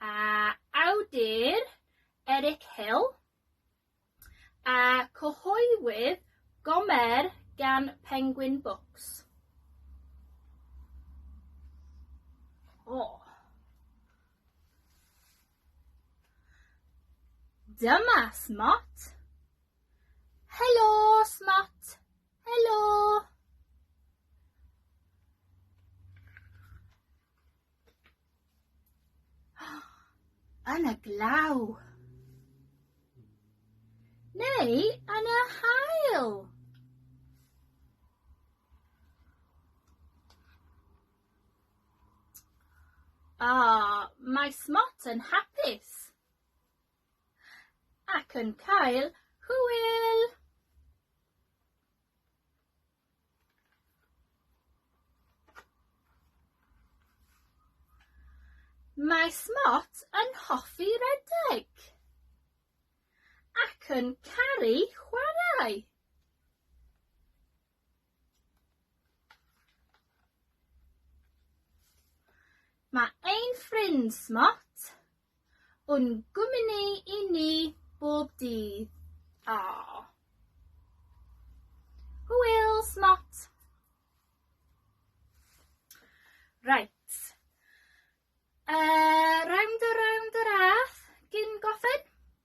A awdur Eric Hill, a cyhoeddwyd Gomer gan Penguin Books. O! Dyma Smot. Helo, Smot! Helo! Yn y glaw. Neu yn y hael. Ah, mae Smot yn hapus ac yn cael hwyl. Mae Smot yn hoffi redeg ac yn caru chwarae. Mae ein ffrind Smot Un gwmni i ni bob dydd. Aww. Hwyl, smot! Right. Uh, round a round a rath, gyn gofyn.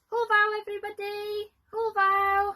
Hwfaw everybody! Hwfaw!